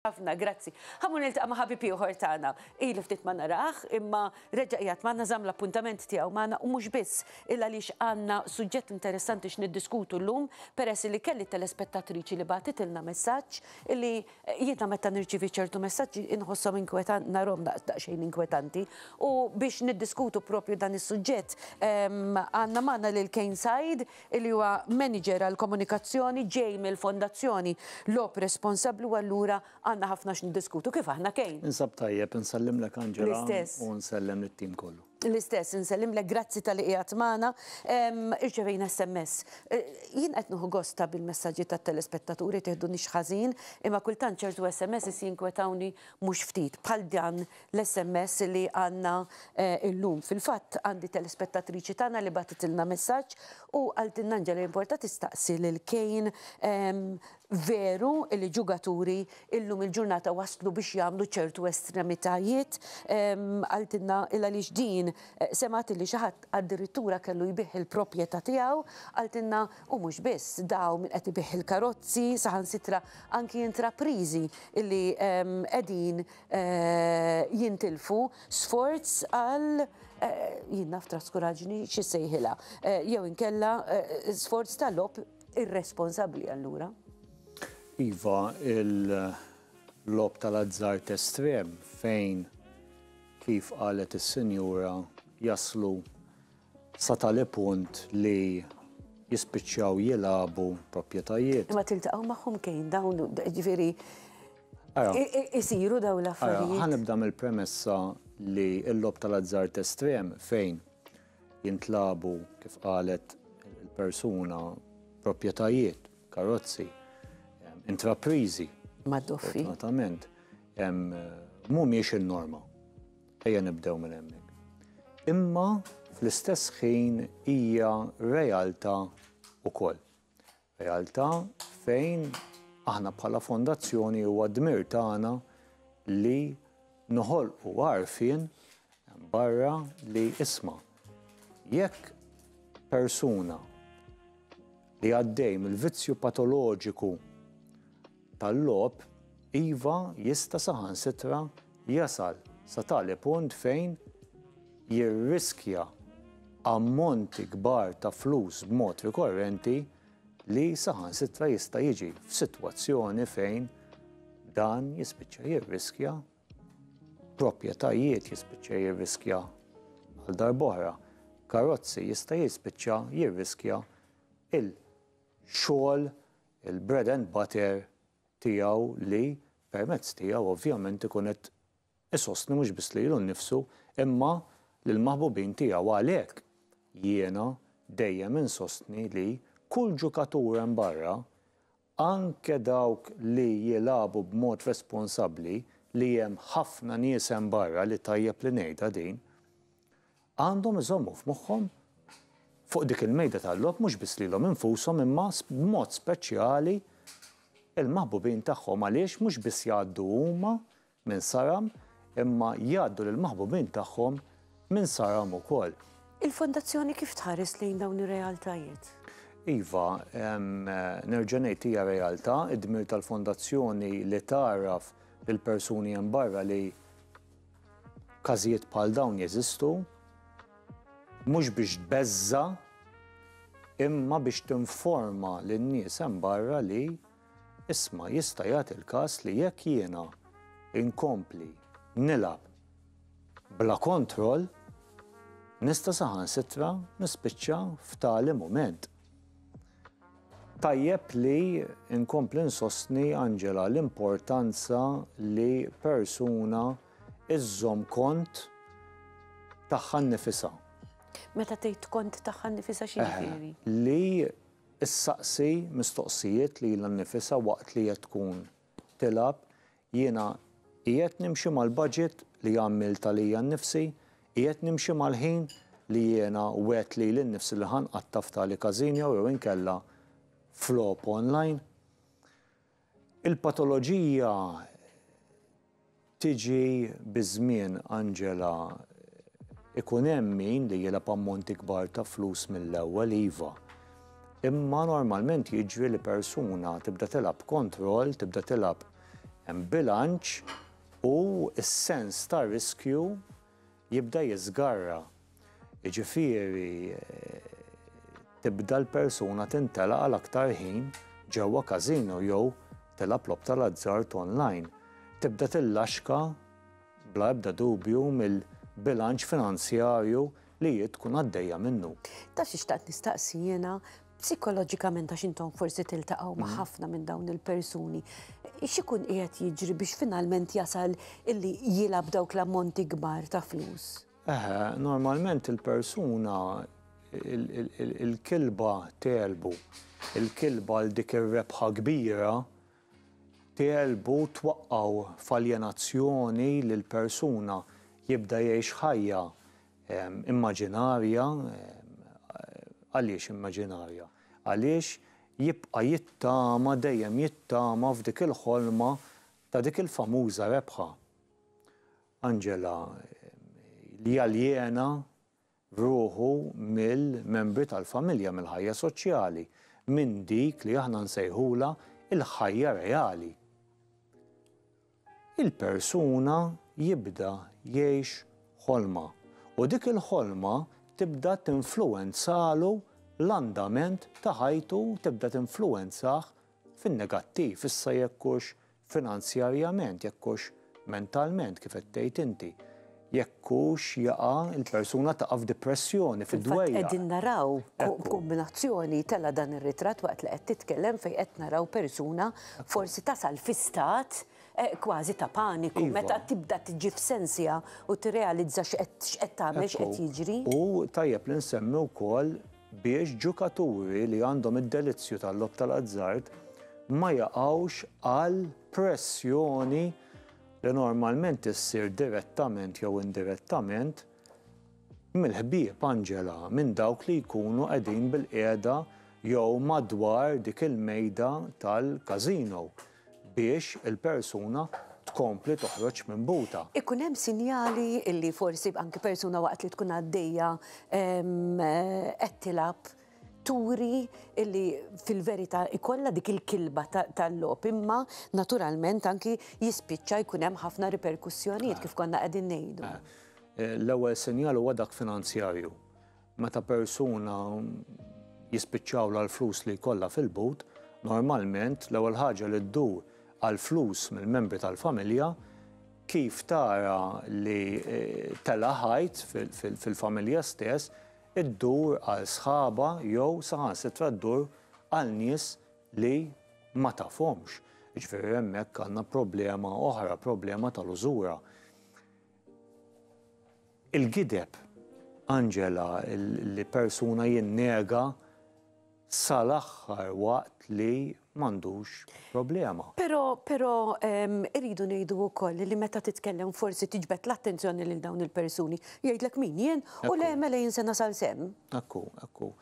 Ħafna grazzi. Ħa mmur niltaqa' ma' ħabib ieħor tagħna. Ili ftit ma narah, imma reġa' qiegħed magħna, żamm l-appuntament tiegħu magħna u mhux biss, illa għaliex għandna suġġett interessanti x'niddiskutu llum, peress li kelli telespettatriċi li bagħtitilna messaġġ li jiena meta nirċievi ċertu messaġġi inħosshom inkwetanti, narahom daqsxejn inkwetanti. U biex niddiskutu proprju dan is-suġġett, għandna magħna lil Kane Said li huwa maniġer għall-komunikazzjoni ġej mill-Fondazzjoni Loeb responsabbli u allura għandna ħafna x'niddiskutu kif aħna Kane. Ninsab tajjeb, insellimlek Angela. L-istess. U nsellem lit-tim kollu. L-istess, insellimlek, grazzi talli qiegħed magħna. Irċevejna SMS. Jien qed nieħu gost ta' bil-messaġġi tat-telespettaturi, tiħdunix ħażin, imma kultant ċertu SMSs jinkwetawni mhux ftit, bħal dan l-SMS li għandna illum. Fil-fatt għandi telespettatriċi tagħna li bagħtitilna messaġġ u qaltilna Anġela jimporta tistaqsi lil Kejn veru li ġugaturi illum il-ġurnata waslu biex jagħmlu ċertu estremitajiet qaltilna il għaliex din semgħet li xi ħadd addirittura kellu jbigħ il-propjetà tiegħu qaltilna u mhux biss dawn min qed ibigħ il-karozzi saħansitra anki intrapriżi li qegħdin jintilfu sforz għal jien naf traskuraġni xi sejħilha jew inkella sforz ta' lob irresponsabbli allura. Iva, il-lob tal-azzart estrem fejn kif qalet is-sinjura jaslu sa tali punt li jispiċċaw jilagħbu proprjetajiet. Imma tiltaqgħu magħhom kejn dawn, ġifieri isiru dawn l-affarijiet. Ħanibda mill-premessa li l-lob tal-azzard estrem fejn jintlabu kif qalet il-persuna proprjetajiet, karozzi, intraprizi. Mad-doffi. Fortunatament, mhumiex in-norma. Ejja nibdew minn hemmhekk. Imma fl-istess ħin hija realtà wkoll. Realtà fejn aħna bħala fondazzjoni huwa dmir tagħna li noħolqu għarfien barra li isma' jekk persuna li għaddej mill-vizzju patoloġiku tal-logħob, iva jista' saħansitra jasal sa tali punt fejn jirriskja ammonti kbar ta' flus b'mod rikorrenti li saħansitra jista' jiġi f'sitwazzjoni fejn dan jispiċċa jirriskja proprjetajiet, jispiċċa jirriskja għal darb'oħra karozzi, jista' jispiċċa jirriskja il-xogħol il-bread and butter tiegħu li permezz tiegħu ovvjament ikun qed isostni mhux biss lilu nnifsu imma lill-maħbubin tiegħu. Għalhekk jiena dejjem insostni li kull ġukatur hemm barra, anke dawk li jilagħbu b'mod responsabbli, li hemm ħafna nies hemm barra li tajjeb li ngħidha din, għandhom iżommu f'moħħhom fuq dik il-mejda tal-logħob mhux biss lilhom infushom imma b'mod speċjali l-maħbubin tagħhom għaliex mhux biss jgħaddu huma minn saram imma jgħaddu lill-maħbubin tagħhom minn saram ukoll. Il-Fondazzjoni kif tħares lejn dawn ir-realtajiet? Iva, nerġa' ngħid hija realtà, id-dmir tal-Fondazzjoni li tgħarraf lill-persuni hemm barra li Każijiet bħal dawn jeżistu mhux biex tbeżża' imma biex tinforma lin-nies hemm barra li, isma' jista' jagħti l-każ li jekk jiena inkompli nilgħab bla kontroll nista' saħansitra nispiċċa f'tali mument. Tajjeb li nkompli nsostni, Angela, l-importanza li persuna iżżomm kont tagħha nnifisha. Meta tgħid kont tagħha nnifisha xi jiġifieri? Li ssaqsi mistoqsijiet lilha nnifisha waqt li qed tkun tilgħab Jiena qiegħed nimxi mal-baġit li għammilt għalija nnifsi, qiegħed nimxi mal-ħin li jiena wgħedt lili nnifsi li ħa nqatta' f'tali każinjo jew inkella f'logħob online? Il-patoloġija tiġi biż-żmien, Angela. Ikun hemm min li jilgħab ammonti kbar ta' flus mill-ewwel, iva. Imma normalment jiġri li persuna tibda tilgħab kontroll, tibda tilgħab bilanċ u s-sens ta' riskju jibda jiżgarra. Jiġifieri tibda l-persuna tintela' għal aktar ħin ġewwa każino jew tilgħab logħob tal-azzard online. Tibda tillaxka bla ebda dubju mill-bilanċ finanzjarju li hi tkun għaddejja minnu. Taf xi xtaqt nistaqsi jiena psikoloġikament għax intom forsi tiltaqgħu ma' mm. ħafna minn dawn il-persuni. X'ikun qiegħed jiġri biex finalment jasal illi jilab dawk l-ammonti kbar ta' flus? Eħe, normalment il-persuna il-kilba telbu, il-kilba l dik ir-rebħa kbira Tegħlbu twaqqgħu f'aljenazzjoni lil persuna, jibda jgħix ħajja immaġinarja, għaliex immaġinarja? Għaliex jibqa' jittama, dejjem jittama f'dik il-ħolma ta' dik il-famuża rebħa. Angela, li jaljena ruħu mill-membri tal-familja, mill-ħajja soċjali, minn dik li aħna nsejħulha l-ħajja reali. Il-persuna jibda jgħix ħolma u dik il-ħolma tibda tinfluwenzalu l-andament ta' ħajtu, tibda tinfluwenzah fin-negattiv, issa jekk hux finanzjarjament, jekk hux mentalment, kif qed tgħid inti, jekk hux jaqa' il-persuna taqa' f'dipressjoni, fid-dwejjaq. Fil-fatt qegħdin naraw kombinazzjoni tela' dan ir-ritratt waqt li qed titkellem fejn qed naraw persuna forsi tasal fi stat kważi ta' paniku meta tibda tiġi f'sensha u tirrealizza x'qed tagħmel, x'qed jiġri. U tajjeb li nsemmi wkoll, biex ġukaturi li għandhom id-delizzju tal-logħob tal-azzard ma jaqgħux għal pressjoni li normalment issir direttament jew indirettament mill-ħbieb, Angela, minn dawk li jkunu qegħdin bilqiegħda jew madwar dik il-mejda tal-każino. biex il-persuna tkompli toħroġ minn buta. Ikun hemm sinjali illi forsi anki persuna waqt li tkun għaddejja qed tilgħab turi illi fil-verità ikollha dik il-kilba tal-logħob imma naturalment anki jispiċċa jkun hemm ħafna riperkussjonijiet kif konna qegħdin ngħidu. L-ewwel sinjal huwa dak finanzjarju. Meta persuna jispiċċawlha l-flus li jkollha fil-but, normalment l-ewwel ħaġa li ddur għall-flus mill-membri tal-familja, kif tara li tela' ħajt fil-familja stess, iddur għal sħabha jew saħansitra ddur għal nies li ma tafhomx. Jiġifieri hemmhekk għandna problema oħra, problema tal-użura. Il-gideb, Angela, li persuna jinnega sal-aħħar waqt li m'għandux problema. Però, però irridu ngħidu wkoll li meta titkellem forsi tiġbed l-attenzjoni lil dawn il-persuni. Jgħidlek min jien u le mela jien se nasal sehem. Ekku, ekku.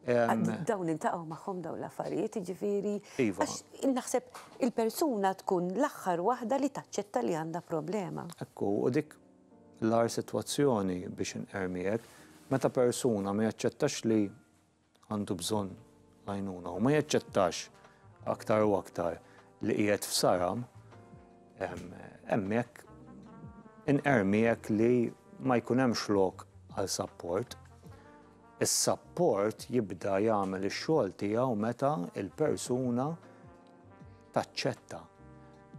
Dawn niltaqgħu magħhom dawn l-affarijiet, jiġifieri. Iva. Għax naħseb il-persuna tkun l-aħħar waħda li taċċetta li għandha problema. Hekk hu, u dik l-agħar sitwazzjoni biex inqermiek, meta persuna ma jaċċettax li għandu bżonn l-għajnuna u ma jaċċettax aktar u aktar li qiegħed f'saram, hemmhekk inqermiek li ma jkun hemmx lok għal sapport. Is-sapport jibda jagħmel ix-xogħol tiegħu meta l-persuna taċċetta,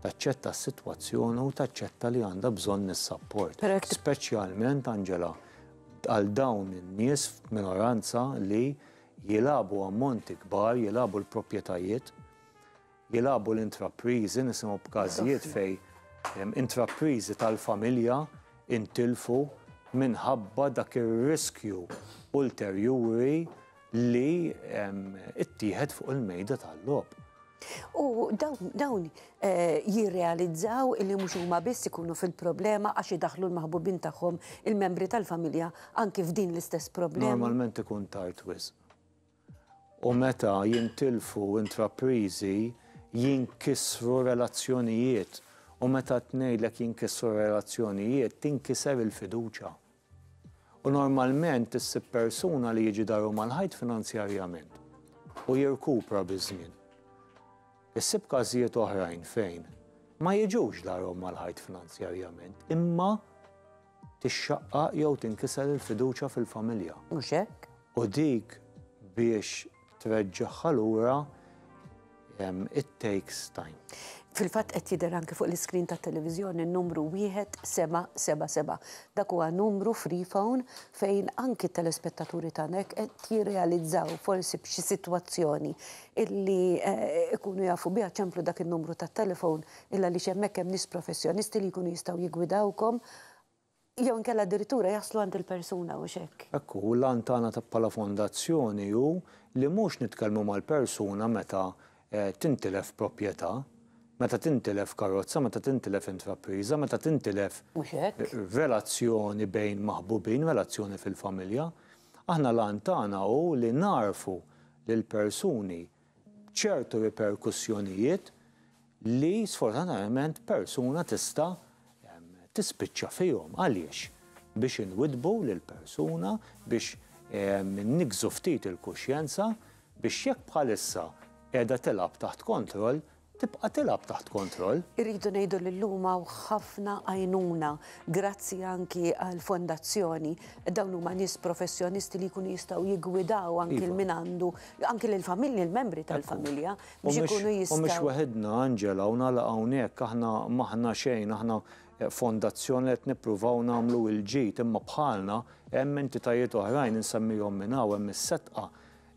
taċċetta s-sitwazzjoni u taċċetta li għandha bżonn is-sapport. Speċjalment, Angela, għal dawn in-nies f'minoranza li jilagħbu ammonti kbar, jilagħbu l-proprjetajiet, Jilagħbu l-intrapriżi, nisimgħu b'każijiet fejn intrapriżi tal-familja ntilfu minħabba dak ir-riskju ulterjuri li ttieħed fuq il-mejda tal-logħob. U dawn jirrealizzaw li mhux huma biss ikunu fil-problema għax idaħħlu l-maħbubin tagħhom, il-membri tal-familja anki f'din l-istess problema. Normalment ikun tard wisq. u meta jintilfu intrapriżi, jinkisru relazzjonijiet u meta tngħidlek jinkisru relazzjonijiet, tinkiser il-fiduċja. U normalment issib persuna li jiġi daru mal-ħajt finanzjarjament u jirkupra biż-żmien. Issib każijiet oħrajn fejn ma jiġux darhom mal-ħajt finanzjarjament imma tixxaqqaq jew tinkiser il-fiduċja fil-familja. Mhux hekk? U dik biex treġġagħha lura it takes time. Fil-fatt qed jidher anke fuq l-iskrin tat-televiżjoni n-numru 1777. Dak huwa numru free phone fejn anki t-telespettaturi tagħna hekk qed jirrealizzaw forsi b'xi sitwazzjoni illi eh, ikunu jafu biha ċemplu dak in-numru tat-telefon Illa għaliex hemmhekk hemm nies professjonisti li jkunu jistgħu jiggwidawkom jew inkella addirittura jaslu għand il-persuna, hux hekk? Hekk hu, u l-għan tagħna ta' bħala fondazzjoni hu li mhux nitkellmu mal-persuna meta tintilef proprjetà, meta tintilef karozza, meta tintilef intrapriża, meta tintilef relazzjoni bejn maħbubin, relazzjoni fil-familja. Aħna l-għan tagħna hu li nagħrfu lill-persuni ċertu riperkussjonijiet li sfortunatament persuna tista' tispiċċa fihom. Għaliex? Biex inwiddbu lill-persuna, biex niggżu ftit il-kuxjenza biex jekk bħalissa qiegħda tilgħab taħt kontroll, tibqa' tilgħab taħt kontroll. Irridu ngħidu li llum hawn ħafna għajnuna grazzi anki għall-fondazzjoni. Dawn huma nies professjonisti li jkunu jistgħu jiggwidaw anki lil min għandu, anki lill-familji, lill-membri tal-familja biex ikunu jistgħu. U mhux waħidna, Angela, u nagħlaq hawnhekk, aħna m'aħna xejn, aħna fondazzjoni li qed nippruvaw nagħmlu l-ġid, imma bħalna hemm entitajiet oħrajn insemmihom minn hawn, hemm is-Setqa,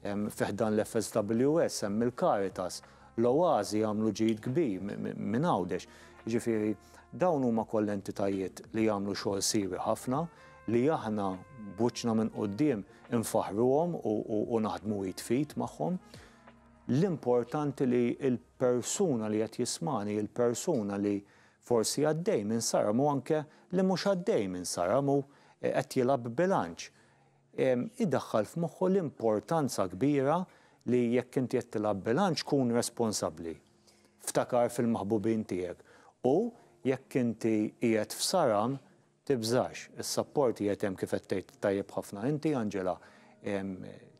Fi ħdan l-FSWS hemm il-Caritas, l-Oasi jagħmlu ġid kbir minn Għawdex. Jiġifieri dawn huma kollha entitajiet li jagħmlu xogħol siewi ħafna li aħna b'wiċċna minn quddiem infaħħruhom u naħdmu id f'id magħhom. L-importanti li l-persuna li qed jismagħni, il-persuna li forsi għaddej minn saram u anke li mhux għaddej minn saram u qed jilgħab b'bilanċ, idaħħal f'moħħu l-importanza kbira li jekk inti qed tilgħab bilanċ kun responsabbli. Ftakar fil-maħbubin tiegħek u jekk inti qiegħed f'saram, tibżax, is-sapport qiegħed hemm kif qed tgħid tajjeb ħafna inti, Angela.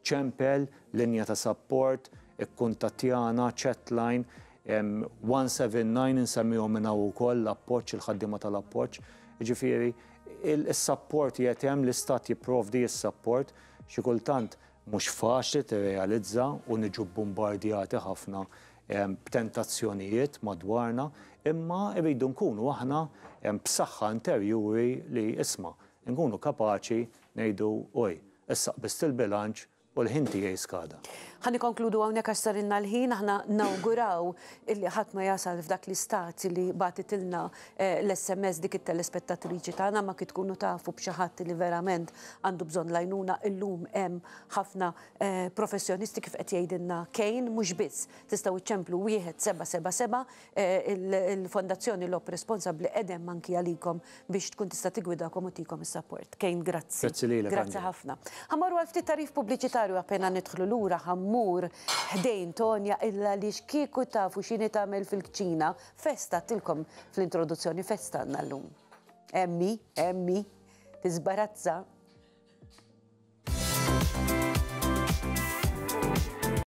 Ċempel, linja ta' sapport, ikkuntattjana, chatline, 179 insemmihom minn hawn ukoll, l-appoġġ, il-ħaddiema tal-appoġġ. Jiġifieri, Is-sapport qiegħed hemm, l-Istat jipprovdi s-sapport. Xi kultant mhux faċli tirrealizza u niġu bbumbardjati ħafna b'tentazzjonijiet madwarna, imma rridu nkunu aħna b'saħħa interjuri li, isma', inkunu kapaċi ngħidu, Oj, issa qbiżt il-bilanċ, U l-ħin tiegħi skada. Ħa nikkonkludu hawnhekk għax sarilna l-ħin. Aħna nawguraw illi ħadd ma jasal f'dak l-istat li bagħtitilna l-SMS dik it-telespettatriċi tagħna, ma kif tkunu tafu b'xi ħadd li verament għandu bżonn l-għajnuna, illum hemm ħafna professjonisti kif qed jgħidilna Kane, mhux biss, tistgħu ċċemplu wieħed seba' seba' seba' Il-Fondazzjoni Lob Responsabbli qegħda hemm anki għalikom biex tkun tista' tiggwidakom u tihkom is-sapport. Kane, grazzi. Grazzi lilek. Grazzi ħafna. Ħa mmorru għal ftit tagħrif pubbliċitarju appena nidħlu lura ħa mmur ħdejn Tonya illa għaliex kieku tafu x'inhi tagħmel fil-kċina, festa għedtilkom fl-introduzzjoni festa għandna llum. Hemm hi, hemm hi, tiżbarazza.